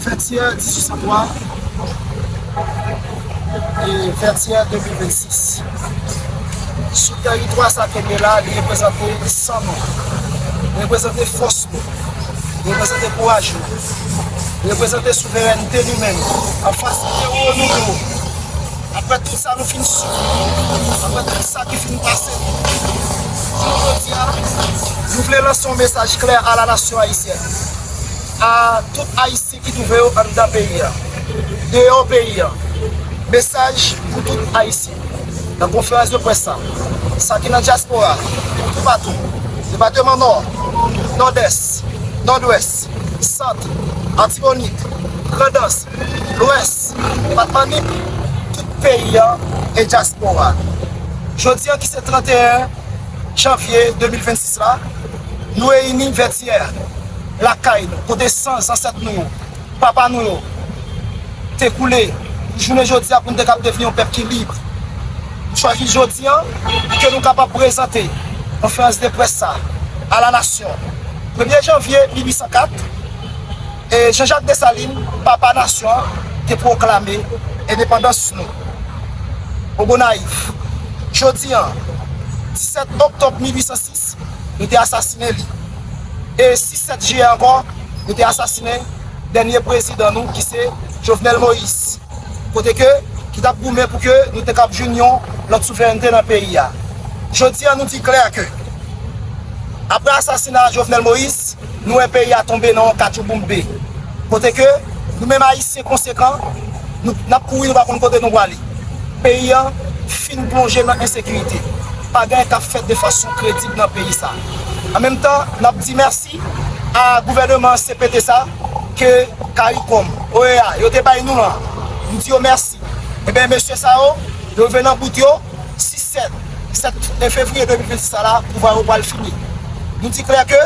Vètyè 1803 e Vètyè 2026 Sou tèritwa sa ke gen la, li reprezante san nou, li reprezante fòs nou, li reprezante kouraj nou, li reprezante souverènte nou menm anfas tewo nou yo. Aprè tout sa nou fin sibi, aprè tout sa ki fin pase nou, jounen jodi a, nou vle lanse yon mesaj klè a la nasyon ayisyèn, a tout Ayisyen ki twouve yo anndan peyi a, deyò peyi a, mesaj pou tout Ayisyen. Nan konferans de près sa, sa ki nan dyaspora a, toupatou, depateman Nò, Nòdès, Nòdwès, Sant, Atibonit, Grandans, Lwès, Depatman Nip, tout peyi an e dyaspora. Jodi an ki se 31 janvye 2026 la, nou reyini Vètyè, lakay nou, kote san zansèt nou yo, papa nou yo te koule pou jounen jodi a pou nou te kab devni yon pèp ki lib. Nou chwazi jodi an pou ke nou kapab prezante konferans de près sa a la nasyon. Premye janvye 1804. Jean Jacques Dessalines, papa nasyon an, te pwoklame endepandans nou. Pou Gonayiv, jodi an, 17 oktòb 1806, yo te asasinen li. E 6 7 jiyè ankò, yo te asasinen dènye prezidan nou ki se Jovenel Moïse. kote ke ki tap goumen pou ke nou te kab jwenn yon lòt souverènte nan peyi a. Jodi a nou di klè ke aprè asasina Jovenel Moïse, nou wè peyi a tonbe nan yon katchouboumbe, kote ke nou menm Ayisyen konsekan, nou nap kouri nou pa konn kote nou pwale. Peyi an fin plonje nan ensekirite. Pa gen anyen kap fèt de fason kredib nan peyi sa. An menm tan, nap di mèsi a gouvèneman CPT sa. ke caricom, OEA, yo te bay nou an, m di yo mèsi. Enben, mesye sa yo, yo rive nan bout yo, 6, 7, 7 fevriye 2026 sa la, pouvwa yo pral fini. Nou di klè ke,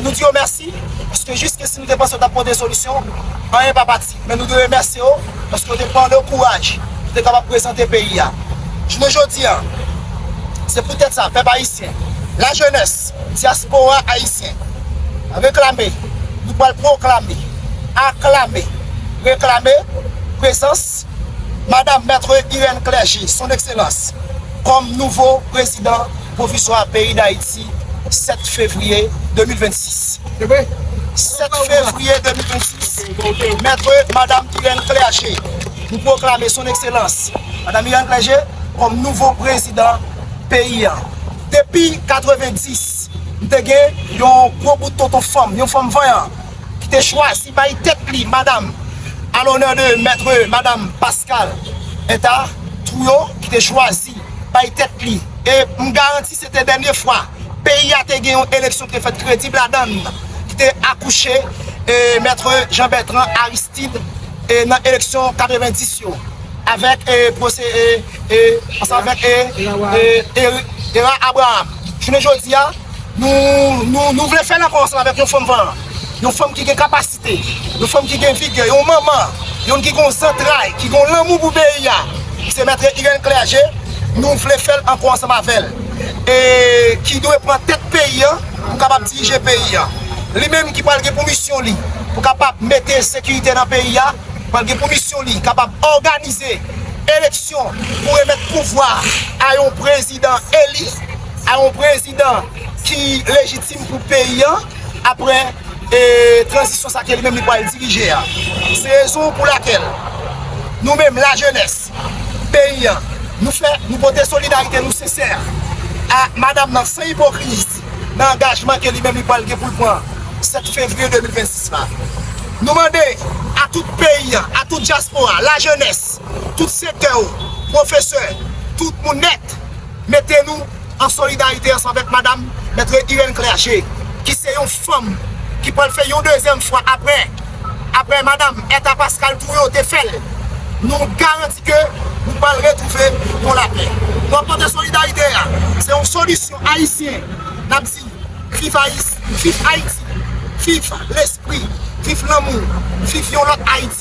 nou di yo mèsi, paske jiskesi nou te panse yo t ap pote solisyon, anyen pa pati. Men nou te remèsye yo paske yo te pran le kouraj pou te kapab prezante peyi a. Jounen jodi a, se pou tèt sa pèp ayisyen, lajenès, dyaspora ayisyen reklame, nou pral pwoklame, aklame, reklame prezans Madam Maitre Irène Clergé, Son Ekselans, kòm nouvo prezidan pwoviswa peyi Dayiti. 7 fevriye 2026 7 fevriye 2026 Maitre Madame Irène Clergé nou pwoklame Son Ekselans Madame Irène Clergé kòm nouvo prezidan peyi an Depi 90 m te gen yon gwo bout tonton fanm, yon fanm vanyan ki te chwazi bay tèt li madam a l'honneur de Maitre Madame Pascale Bertha Trouillot ki te chwazi bay tèt li e m garanti Se te dènye fwa peyi a te gen yon eleksyon ki te fèt kredib ladan l, ki te akouche Maitre Jean Bertrand Aristide nan eleksyon 90 yo avèk Erard Abraham. Jounen jodi a, nou vle fè l ankò ansanm avèk yon fanm vanyan. Yon fanm ki gen kapasite, yon fanm ki gen vigè, yon manman, yon ki gon zantray, ki gon lanmou pou peyi a, se Maitre Irène Clergé, nou vle fè l ankò ansanm avè l. E ki dwe pran tèt peyi an pou kapab dirije peyi an. Li menm ki pral gen pou misyon li pou kapab mete sekirite nan peyi a, pral gen pou misyon li kapab òganize eleksyon pou remèt pouvwa a yon prezidan eli, a yon prezidan. prezidan ki lejitim pou peyi an apre tranzisyon sa ke li menm li pwal dirije a. Se rezon pou lakel nou menm la jenès peyi an nou fè nou pote solidarite nou sensè a madam nan san ipokrizi nan angajman ke li menm li pwal gen poul pran 7 fevriye 2026 la. Nou mande a tout peyi an, a tout dyaspora, la jenès, tout sektè ou, pwofesè, tout moun nèt. Mete nou an solidarite ansanm avèk madam Maitre Irène Clergé ki se yon fanm ki pral fè yon dezyèm fwa aprè aprè madam Ertha Pascal Trouillot te fèl. Nou garanti ke nou pral retrouve yon lapè. Nou ap mande solidarite a se yon solisyon ayisyen nap di viv ayisyen viv Ayiti viv lespri viv lanmou viv yon lòt Ayiti.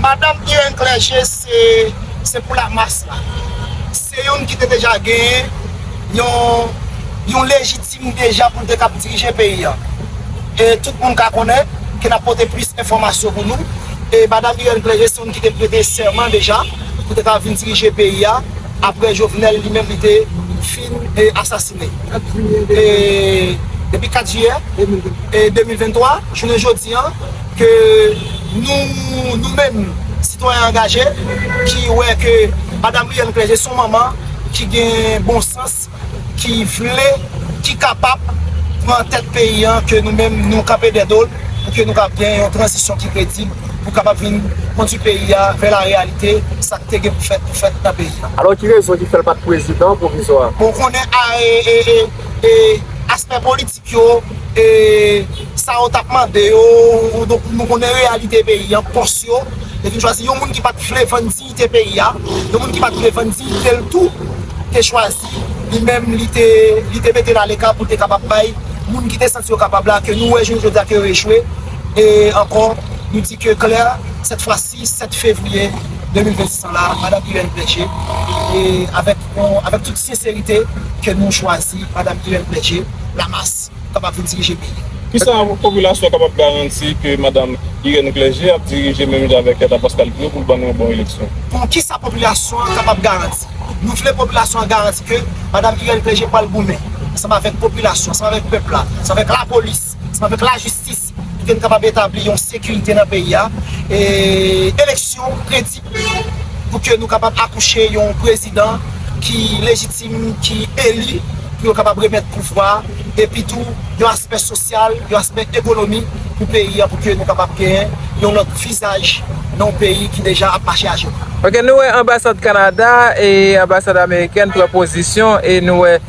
Madam Irène Clergé se pou la mas la. Se youn ki te deja genyen yon lejitim deja pou l te kab dirije peyi an. E tout moun ka konnen ke n ap pote plis enfòmasyon pou nou. E Madam Irène Clergé se youn ki te prete sèman deja pou te kab vin dirije peyi a apre Jovenel li menm li te fin asasine. Depi 4 jiyè 2023 jounen jodi an. ke nou, nou menm sitwayen angaje ki wè ke Madam Brianne Clergé son manman ki gen bon sans, ki vle, ki kapab pran tèt peyi an ke nou menm nou kanpe dè do l pou ke nou kab gen yon tranzisyon ki kredib pou kapab vin kondwi peyi a vè la reyalite sa k te gen pou fèt pou fèt nan peyi a. Alò ki rezon ki fè l pa t prezidan pwovizwa? Bon ou konnen aspè politik. yo e sa yo tap mande yo donk nou konnen reyalite peyi an pòs yo yo te chwazi yon moun ki pat vle vann diyite peyi a yon moun ki pat vle vann diyite l tou te chwazi li menm li te li te mete l aleka pou l te kapab bay moun ki te santi yo kapab la ke nou wè jounen jodi a ke yo echwe e ankò nou di ke klè sèt fwa si. Madi 7 fevriye 2026 an la, Madam Irène Pledger, e avèk avèk tout senserite ke nou chwazi Madam Irène Pledger, Lamas, kapab vin dirije peyi a. Kisa popilasyon kapab garanti ke Madam Irène Pledger ap dirije menm jan avèk Hertha Pascal Guy yo pou l ban nou yon bon eleksyon? Bon, kisa popilasyon an kapab garanti? Nou vle popilasyon an garanti ke Madam Irène Pledger pral goumen ansanm avèk popilasyon, ansanm avèk pèp la, ansanm avèk lapolis, ansanm avèk lajistis, Pou n kapab etabli yon sekirite nan peyi a, e eleksyon kredib, pou ke nou kapab akouche yon prezidan ki lejitim, ki eli, pou yo kapab remèt pouvwa, epi tou yon aspè sosyal, yon aspè ekonomi pou peyi a, pou ke nou kapab genyen yon lòt vizaj nan yon peyi ki deja ap mache ajenou. Ok nou wè anbasad Kanada e anbasad amerikèn pran pozisyon e nou wè.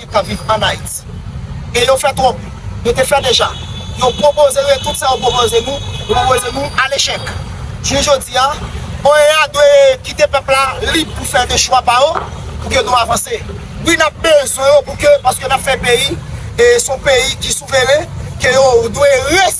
Ayisyen kap viv an Ayiti. E yo fè twòp. Yo te fè deja. Yo pwopoze yo e tout sa yo pwopoze nou, yo pwopoze nou a lechèk. Jounen jodi a, OEA dwe kite pèp la lib pou fè de chwa pa yo pou ke nou avanse. Wi nap bezwen yo pou ke paske nap fè peyi e son peyi ki souveren ke yo dwe re.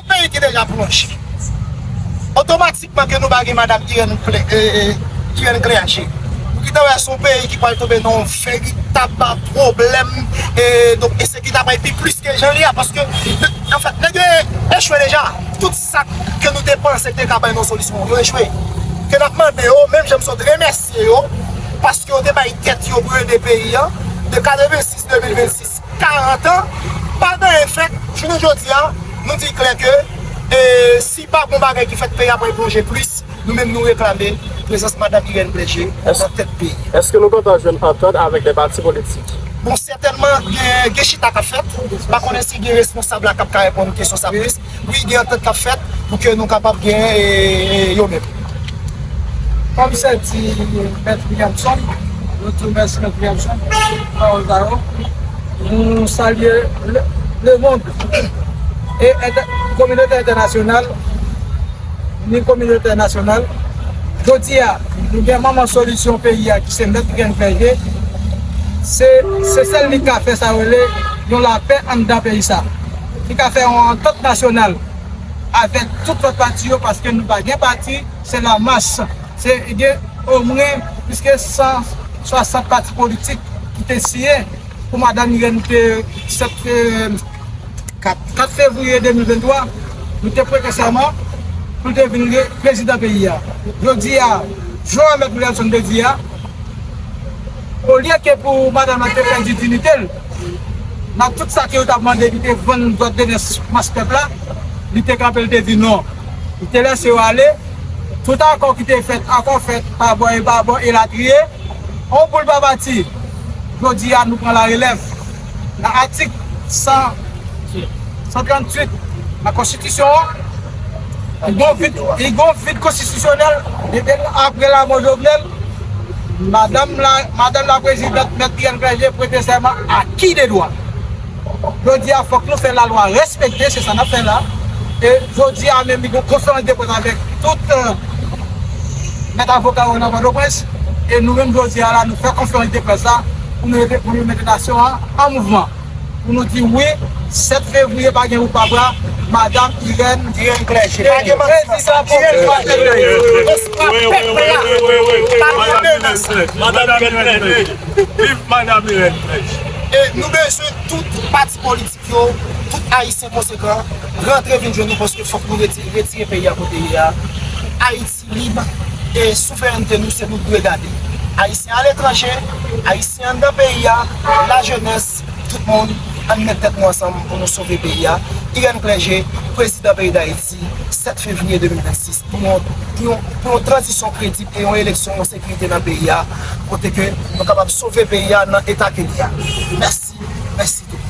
Peyi ki deja plonje. Otomatikman ke nou pa gen madam Irène Irène Clergé. Ou ki ta wè son peyi ki pwal tonbe nan yon veritab pwoblèm donk ensekite a pwal pi plis ke jan li a paske anfèt nèg yo echwe deja. Tout sa ke nou te panse te ka bay nou yon solisyon yo echwe. Ke nap mande yo menm jan m sot remèsye yo paske yo te bay tèt yo pou yo ede peyi an de 86 2026 40 an pa genyen fèt jounen jodi a nou di klè ke si pa gon bagay ki fèt peyi a pral plonje plis nou menm nou reklame prezans madam Irène Bleje nan tèt peyi a. Eske nou gentan jwenn antant avèk de pati politik? Bon sètènman gen chita kap fèt, pa konnen si gen responsab la kap ka reponn kesyon sa plis. Wi gen antant kap fèt pou ke nou kapab gen yo menm. Kòm se di mèt Williamson, nou di w mèsi mèt Williamson pou pawòl sa yo. Nou salye lemond e kominote entènasyonal ni kominote nasyonal. Jodi a nou gen manman solisyon peyi a ki se mèt Grenn Vèje. Se sèl li k ka fè sa yo rele yon lapè anndan peyi sa. Nou ka fè yon antant nasyonal avèk tout lòt pati yo paske nou pa gen pati se la mas se gen omwen plis ke 160 pati politik ki te siyen pou madam Irène te 4 fevriye 2023 li te prete sèman pou li te vin li prezidan peyi a jodi a jan mèt Wilson te di a olye ke pou madam nan te pèdi dinitel. Mak tout sa ke yo tap mande li te vann dwat de nez mas pèp la, li te kanpe li te di non. Li te lese yo ale, tout akò ki te fèt, akò fèt pa bò e pa bò elatriye, on boul pa pati. Jodi a nou pran la relèv. Nan atik 138 nan konstitisyon an, li gon vid konstitisyonèl aprè lamò Jovenel. Madanm Madan la Prezidant Mèt Pierre Verger prete sèman a ki de dwa? Jodi a fòk nou fè lalwa respekte se sa nap fè la e jodi a menm li gen konferans de près avèk tout mèt avoka yo nan Pòtoprens e nou menm jodi a la nou fè konferans de près la pou nou ede pou nou mete nasyon an an mouvman. Pou nou di wi, 7 fevriye pa gen oupabra, madam Irène Clergé. Pa gen manti nan sa. Viv madam Irène Clergé. E nou bezwen tout pati politik yo, tout ayisyen konsekan rantre vin jwenn nou paske fòk nou retire peyi a kote li ye a pou ayiti. Lib e souverènte nou se nou dwe gade. Ayisyen aletranje, Ayisyen anndan peyi a, lajenès, tout moun, ann met tèt nou ansanm pou nou sove peyi a, Irène Clergé, Prezidan peyi Dayiti, 7 fevriye 2026, pou yon pou yon pou yon tranzisyon kredib e yon eleksyon an sekirite nan peyi a, kote ke nou kapab sove peyi a nan eta ke li a. Mèsi, mèsi tout moun.